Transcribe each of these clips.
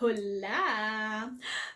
Hola!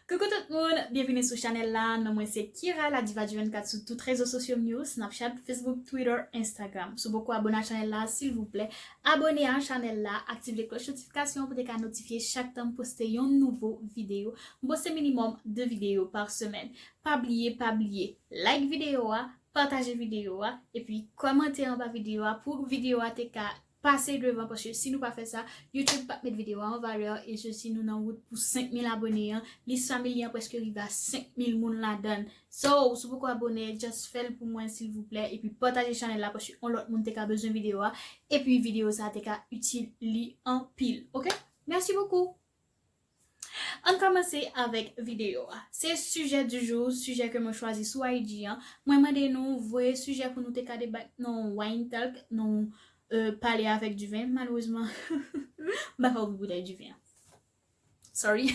Coucou tout moun, byenvini sou chanèl la, non mwen se Kira la diva du 24 sou tout rezo sosyom yo, Snapchat, Facebook, Twitter, Instagram. Sou poko abone a chanèl la silvouplè, Abone a chanel la aktive kloch notifikasyon pou te ka notifye chak tan m poste yon nouvo video. M poste minimum 2 video par semèn. Pa bliye pa bliye like video a, pataje video a, epi kòmante anba video a pou video a te ka pase devan paske si nou pa fè sa YouTube pap met video a an valè e se si nou nan wout pou 5000 abone an, lis family an preske rive a 5000 moun ladan l. So ou sou poko abone just fèl pou mwen silvouplè epi pataje chanèl la paske yon lòt moun te ka bezwen video a epi video sa te ka itil li anpil ok merci beaucoup Ann kòmanse avèk video a se sujet du jour sujet ke mwen chwazi sou IG an mwen mande nou voye sujet pou nou te ka debat nan yon wine talk nan yon pale avèk du vin malheureusement m pa ka ouvri boutèy du vin an. Sorry,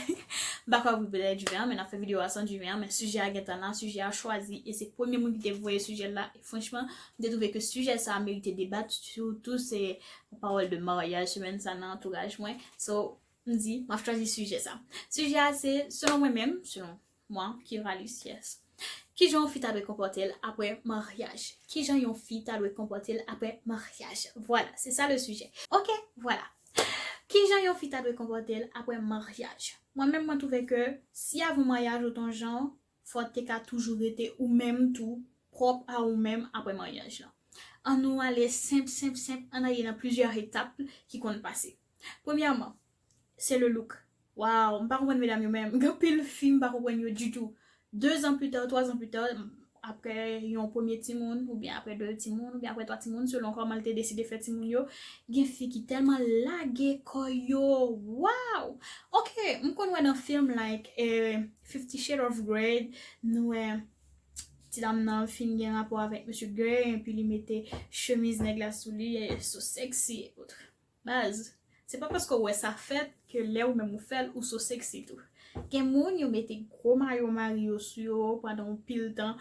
m pa kwè pou bèlè e Duvin an, men n ap fè videyo a san Duvin an, men sijè a gentan la, sijè a chwazi, e se premye moun ki te voye sijè l la, e franchman, m te twouve ke sijè sa a merite debat, sitou se pawòl de maryaj semèn sa nan antouraj mwen, so, m di, m ap chwazi sijè sa. Sijè a se, selon mwen menm, selon. Mwen, Kira Luciès. Ki jan yon fi ta dwe konpòte l apre maryaj? Ki jan yon fi ta dwe konpòte l apre maryaj? Vwala, se sa le sijè. Ok! Vwala. Ki jan yon fi ta dwe konpòte l apre maryaj? Mwen menm, mwen twouve ke si avan maryaj ou te yon jan, fò w te ka toujou rete ou menm tou, pwòp a ou menm apre maryaj lan. An nou ale senp, senp, senp, an n ale nan plizyè etap ki konn pase. Premyèman, Se le look. Waww m pa konprann medam yo menm gen pil fi m pa konprann yo ditou 2 ans plus tard 3 ans plus tard aprè yon premye timoun oubyen aprè 2 timoun oubyen aprè 3 timoun selon kòman l te deside fè timoun yo gen fi ki tèlman lage kò yo waww ok m konn wè nan film like fifty shade of grey nou wè ti dam nan fin gen rapò avèk mesye grey epi li mete chemiz nèg la sou li e so sexy et autres. Baz, se pa paske w wè sa fèt ke lè ou menm ou fè l ou so sexy tou. Gen moun yo mete gwo mayo mari yo sou yo pandan yon pil tan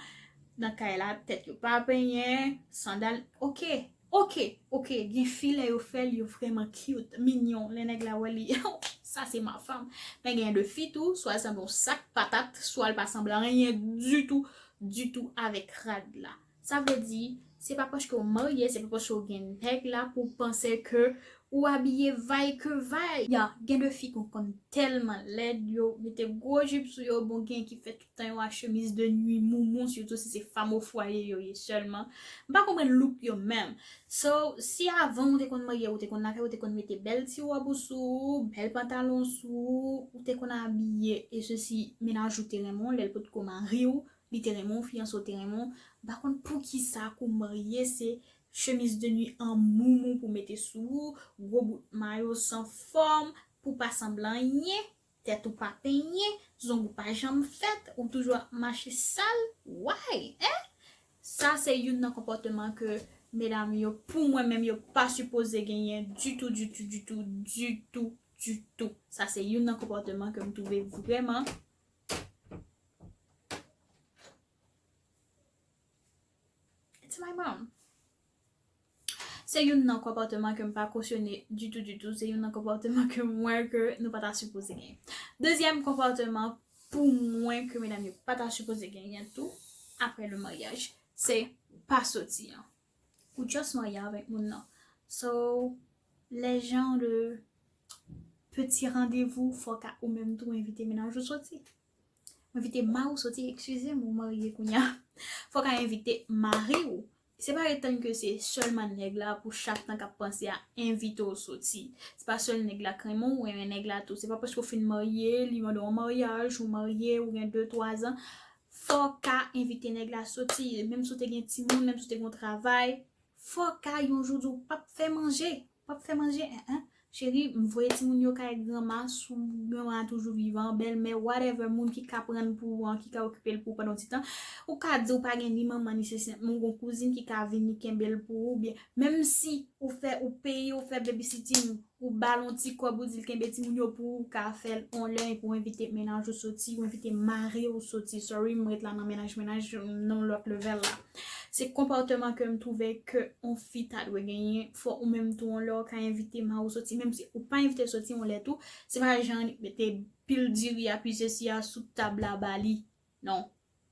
nan kay la, tèt yo pa penyen, sandal, ok, ok, ok gen fi lè yo fè l yo vrèman cute, mignon, lè nèg la wè li oh ça c'est ma femme. Men gen de fi tou swa l sanble yon sak patat, swa l pa sanble anyen ditou, ditou avèk rad la. Sa vle di, se pa paske ou marye, se pa paske ou gen nèg la pou w panse ke ou abiye vay ke vay. Ya, gen de fi ki konn tèlman lèd, yo mete gwo jip sou yo, bon gen ki fè tout tan yo a chemiz de nwi moumou, sitou si se fanm o fwaye yo ye sèlman. M pa konprann look yo menm. So, si avan ou te konn marye, ou te konn lave, ou te konn mete bèl ti wòb ou sou ou, bèl pantalon sou ou, ou te konn abiye e sesi, mennaj ou te renmen w lè l potko mari w, Li te renmen w fi an so te renmen w m pa konn poukisa kou marye se chemise de nuit an moumou pou mete sou ou gwo bout mayo san fòm pou pa sanble anyen tèt ou pa penyen zong ou pa janm fèt ou toujou ap mache sal why hein sa se youn nan konpòteman ke medam yo pou mwen menm yo pa sipoze genyen ditou ditou ditou ditou ditou sa se youn nan konpòteman ke m twouve vrèman. It's my mom. Se yon nan konpòteman ke m pa kosyone ditou ditou. Se yon nan konpòteman ke mwen ke nou pa ta sipoze gen. Dezyèm konpòteman pou mwen ke medam yo pa ta sipoze gen yen tou apre le maryaj. Se pa soti an. Ou just marye avèk moun nan. So les gens de petit rendez-vous fòk ou menm tou envite mennaj ou soti. Ou envite mari ou soti, eksizem ou marye kounya. Fòk a envite mari ou. Se pa etann ke se sèlman nèg la pou chak tan kap panse a envite ou soti. Se pa sèl nèg la k renmen ou, ou renmen nèg la tou. Se pa paske ou fin marye, li mande w an maryaj, ou marye, ou gen 2, 3 zan. Fò w ka envite nèg la soti, menm si w te gen timoun, menm si w te gen yon travay, fò w ka yon jou di w pa p fè manje, w pa p fè manje en en, cheri m voye timoun yo kay granma, si granma a toujou vivan, bèlmè, whatever, moun ki ka pran l pou ou an, ki ka okipe l pou ou pandan yon ti tan, ou ka di ou pa gen ni manman ni sese, men ou gen yon kouzin ki ka vini kenbe l pou ou, oubyen menm si ou fè, ou peye, ou fè baby sitting, Ou ba l on ti kòb ou di l kenbe timoun yo pou ou ka fè l on lè epi w envite mennaj ou soti, ou envite mari w soti, sorry m ret la nan mennaj mennaj nan lòt level la. Se konpòteman ke m twouve ke on fi ta dwe genyen, fò ou menm tou on lè ou ka envite mari w soti menm si ou pa envite l soti on lè tou, se pa jan mete pil diri a pi sesi a sou tab la ba li Non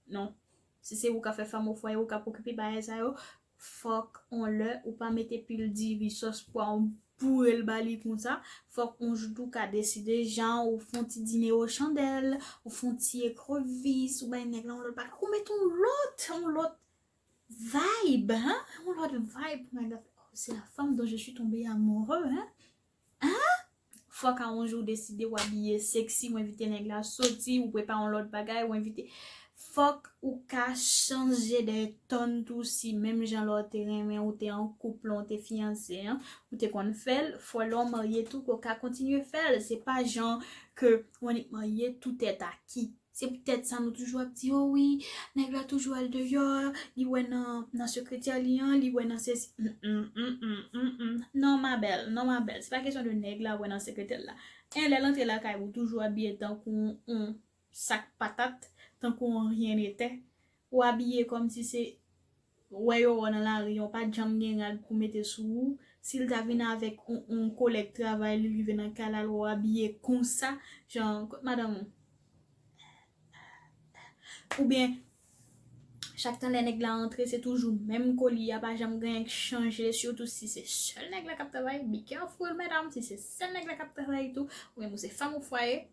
non si se ou kap fè fanm ofwaye ou kap okipe bagay sa yo fòk on lè ou pa mete pil diri sòs pwa ou bourel ba li konsa fòk on jou tou ka deside jan ou fon ti dinero chandèl ou fon ti ekrevis ou bay nèg la on lòt bagay ou met on lòt on lòt vibe hein on lòt vibe pou nèg la fè oh c'est la femme dont je suis tombé amoureux hein Haa fòk a yon jou ou deside ou abiye sexy ou envite nèg la soti ou prepare yon lòt bagay ou envite fòk ou ka chanje de ton tou si menm jan lè w te renmen ou te an koup lè w te fiyanse an ou te konn fè l fò lè w marye tou ke w ka kontinye fè l se pa jan ke ou annik marye tou tèt a kit. Se poutèt sa nou toujou ap di o wi, nèg la toujou al deyò, li wè nan sekretyè li an, li wè nan sesi, hum hum hum hum non ma belle, non ma belle, se pa kesyon de nèg la wè nan sekretè l la, 1 lè l antre lakay ou toujou abiye tankou yon sak patat, tankou yon ryen netè, Ou abiye kòmsi se wè yo wè w nan lari an, w pa t janm gen rad pou mete sou ou. Si l ta vin avèk yon kolèg travay li rive nan kay la l wè w abiye konsa, jan kot madanm ou? Oubyen chak tan lè nèg la antre se toujou menm koli a pa janm gen anyen k chanje sitou si se sèl nèg la k ap travay, be careful medam si se sèl nèg la k ap travay tou oubyen pou se fanm ou fwaye.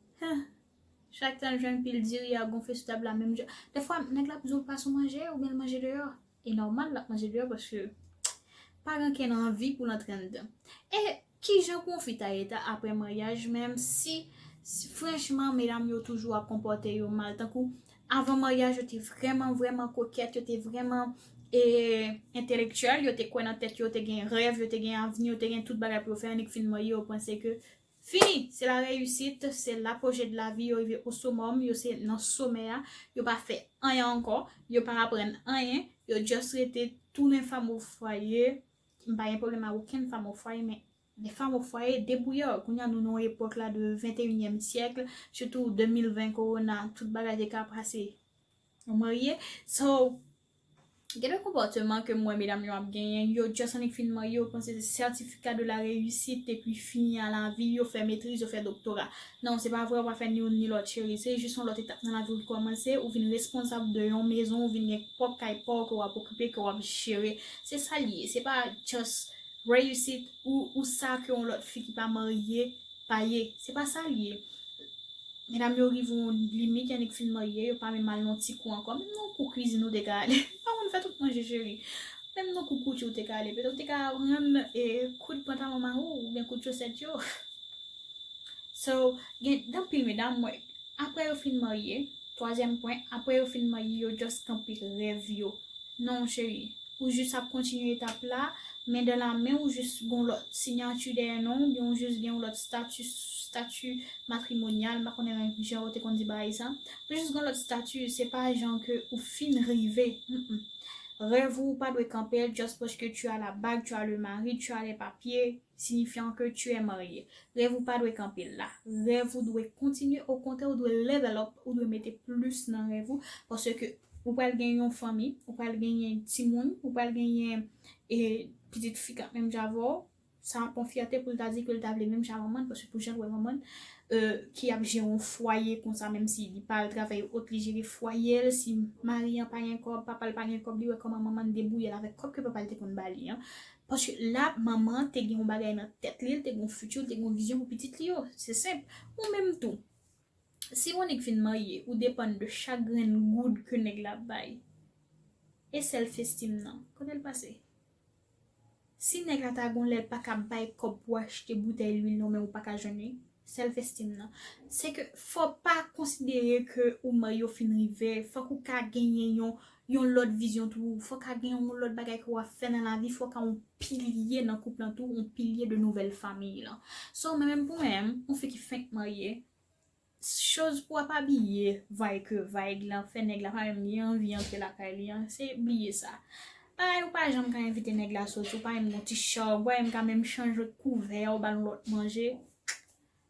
Chak tan l jwenn pil diri a gonfle sou tab la menm jan. Dèfwa nèg la ap di w pas ou manje oubyen l manje deyò. E nòmal l ap manje deyò paske pa gen ankenn anvi pou l antre anndan. E kijan pou yon fi ta ye ta aprè maryaj menm si franchman medam yo toujou ap konpòte yo mal tankou avan maryaj yo te vrèman vrèman kokèt yo te vrèman e entelektyèl yo te kwè nan tèt yo yo te gen rèv yo te gen avni yo te gen tout bagay pou yo fè annik fin marye yo panse ke Fini! Se la reyisit, se la pwoje de lavi yo rive o somòm, yo se nan somè a, yo pa fè anyen ankò, yo pa aprann anyen, yo just rete tounen fanm o fwaye, m pa gen pwoblèm a okenn fanm o fwaye men de fanm o fwaye debwouyè, kounye a nou nan yon epòk la de venteyinyèm syèkl, sitou 2020 kowona tout bagay te ka pase, ou marye, so Gen de konpòteman ke m wè medam yo ap genyen, yo just annik fin marye yo panse se certificat de la reussite epi fini a la vi, yo fè metriz, yo fè doktora. Non, se pa vre, ou pa fè ni youn ni lòt cheri, se jis yon lòt etap nan lavi ou ki kòmanse, ou vin responsab de yon mezon, ou vin gen pwòp kay pa w ke w ap okipe, ke w ap jere. Se sa l ye, se pa just reussite ou sa ke yon lòt fi ki pa marye Pa ye. Se pa sa l ye. Medam yo rive yon limit yannik fin marye yo pa menm al nan ti kou ankò menm nan kou kwizin ou te ka ale ou pa konn fè tout manje cheri menm nan kou kouti ou te ka ale petèt ou te ka aprann koud pantalon mari w oubyen koud chosèt yo so gen anpil medam mwen apre yo fin marye twazyèm pwen apre yo fin marye yo just kanpe rèv yo Non chérie. Ou jus ap kontinye etap la, men dan la men ou jus gon lòt sinyati dèyè non ou byen ou jus gen yon lòt stati, stati matrimonyal m pa konnen jan yo te konn di bagay sa, ou jus gon lòt stati se pa jan ke ou fin rive humm rèv ou pa dwe kanpel just paske tu as la bague, tu as le mari, tu as les papiers. Signifiant que tu es marié. Rèv ou pa dwe kanpe la. Rèv ou dwe kontinye, okontrè ou dwe level up, ou dwe mete plis nan rèv ou, paske ou pral gen yon fanmi, ou pral genyen timoun, ou pral genyen pitit fi k ap menm jan avè w, sa ap yon fyète pou l ta di ke l ta vle menm jan manman l, paske pou jan l wè manman l ki ap jere yon fwaye konsa menm si li pa al travay ou ot li jere fwaye l, si mari an pa gen kòb, papa l pa gen kòb li wè kòman manman l debouye l avèk kòb ke papa l te konn ba li an. Paske la manman an te gen yon bagay nan tèt li, li te gen yon futur, li te gen yon vizyon pou pitit li yo. Se senp. Ou menm tou, si yon nèg fin marye, ou depann de chak grenn goud ke nèg la ap bay. E self esteem nan? Kote l pase? Si nèg la ta gen yon lè l pa ka bay kòb pou achte boutèy lwil non men ou pa ka jwenn li, Self esteem nan. Se ke fò pa konsidere ke ou may yo fin rive, fòk ou ka genyen yon yon lòt vizyon tou, fò ka gen yon lòt bagay ke wap fè nan lavi, fò ka yon pilye nan koup lan tou, yon pilye de nouvèl famiy lan. So mwen menm pou mwen menm, yon fi ki fenk marye, choz pou wap abiye vay ke vay, lan fè nèg la pa menm li anvi antre lakay li an, se bliye sa. Bagay ou pa janm ka envite nèg la soti ou pa menm gen yon ti chawg wè MK menm chanje kouvè a ou bal yon lòt manje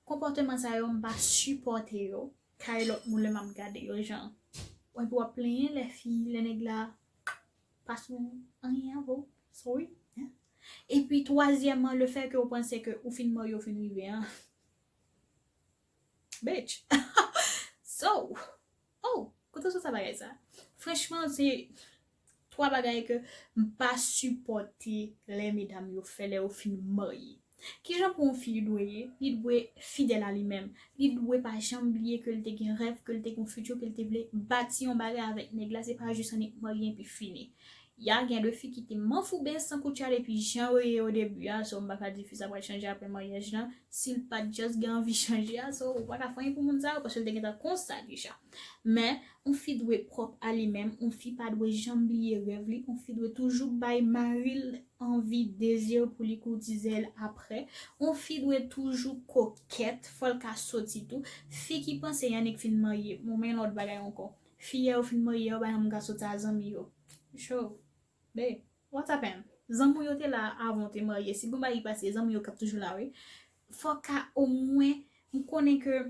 konpòteman sa yo mpa sipòte yo kay lòt moun lè map gade yo jan epi wap plenyen lè fi lè nèg la pa sou anyen avè w sorry hein epi twazyèman le fè ke ou panse ke ou fin marye ou fin rive an bitch so. Oh! Kote w sot sa bagay sa? Franchman se 3 bagay ke m pa sipòte lè medam yo fè lè yo fin marye. Kijan pou yon fi li dwe ye? Li dwe fidèl a li menm. Li dwe pa janm bliye ke l te gen rèv, ke l te gen yon futur, ke l te vle bati yon bagay avèk nèg la, se pa jis annik marye enpi fini. Ya gen de fi ki te manfouben san koutya depi jan yo ye odebi a so m paka di fi sa pral chanje aprè maryaj lan sil pat just gen anvi chanje a so ou paka fanyen pou moun sa yo paske l te gentan konsa deja men on fi dwe pwòp a li menm on fi pa dwe janm bliye rèv li on fi dwe toujou bay maril anvi dezi l pou li koutize l aprè on fi dwe toujou kokèt fòl ka soti tou fi ki panse Yanick fin marye bon men yon lòt bagay ankò Fiyè ou fin marye a ou bay yon gason sa zanmi yo cho be what happened zanmi w yo te la avan w te marye si bon bagay pase zanmi yo kap toujou la wi fok ka omwen m konnen ke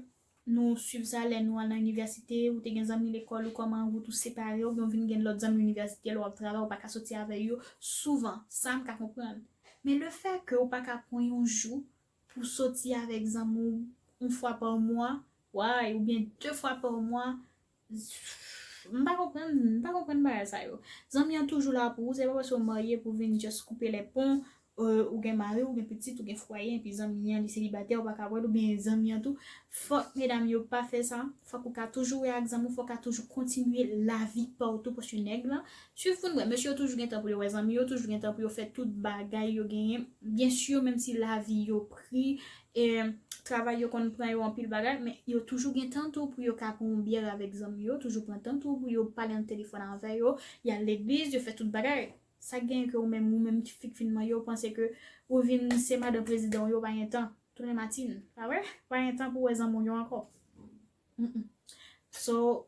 nou swiv sa lè nou al nan inivèsite ou te gen zanmi lekòl ou kòman wout ou separe oubyen w vin gen lòt zanmi inivèsite lè wap travay ou pa ka soti avè yo souvan sa m ka konprann men le fè ke ou pa ka pran yon jou Pou soti avèk zanmi w yon fwa pa mwa way oubyen de fwa pa mwa m pa konprann m pa konprann bagay sa yo. Zanmi an toujou la pou ou se pa paske ou marye pou vin just koupe lè pon ou gen mari ou gen pitit ou gen fwaye enpi zanmi an li selibatè ou pa ka wè l oubyen zanmi an tou fòk medam yo pa fè sa fòk ou ka toujou wè ak zanmi w fòk ou ka toujou kontinye lavi pa w tou paske nèg lan Swiv pou n wè, mesye yo toujou gen tan pou yo wè zanmi yo, toujou gen tan pou yo fè tout bagay yo genyen, byen sur menm si lavi yo pri, e travay yo konn pran yo anpil bagay, men yo toujou gen tan tou pou yo ka pran yon byè avèk zanmi yo, toujou pran tan tou pou yo pale nan telefòn avè yo, y al legliz, yo fè tout bagay. Sa genyen ke ou menm, ou menm ki fi k fin marye, ou panse ke ou vin se madan prezidan w yo, ou pa gen tan, tounen matin, pa vre? Ou pa gen tan pou wè zanmi w yo ankò. Hum, hum. So,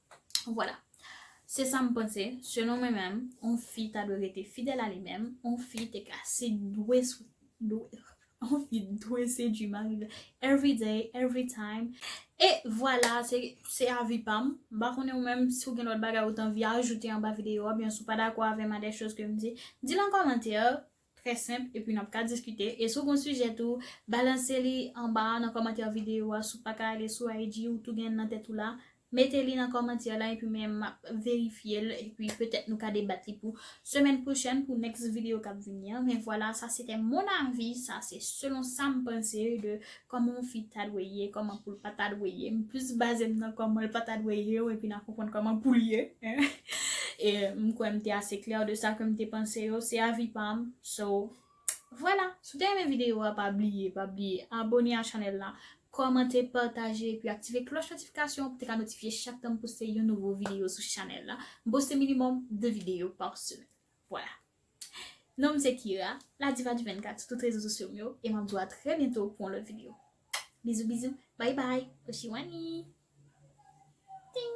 Vwala. Se sa m panse, selon mwen menm, yon fi ta dwe rete fidèl a li menm, yon fi te ka se dwe sou dwe yon fi dwe sedwi mari l every day, every time. E vwala, se se avi pa m. M pa konnen ou menm si w gen lòt bagay ou t anvi ajoute anba videyo a oubyen si w pa dakò avè m a dè choz ke m di, di l an kòmantè. Trè senp epi nap ka diskite e si w gon sijè tou balanse li anba a nan kòmantè videyo a si w paka ale sou IG ou tou gen l nan tèt ou la mete li nan kòmantyè la epi men map verifye l epi petèt nou ka debat li pou semèn pwochèn pou next videyo kap vini an men vwala sa sete mon avis sa se selon sam panse de Kòman yon fi ta dwe ye, kòman poul pa ta dwe ye. M plis baze m nan kòman l pa ta dwe ye epi na konprann kòman poul ye. E m kwè m te ase klè de sa ke m te panse yo. Se avi pa m. So, vwala. Si w te renmen videyo a pa bliye, pa bliye abone a chanèl la, kòmante, pataje epi aktive klòch notifikasyon pou te ka notifye chak tan m poste yon nouvo videyo sou chanèl la. M poste minimòm 2 videyo pa semèn. Voilà. Non m se Kira, la diva du 24 sou tout rezo sosyo m yo e map di w a trè byento pou yon lòt video. Bizou bizou bye bye Oshiwanii Ting.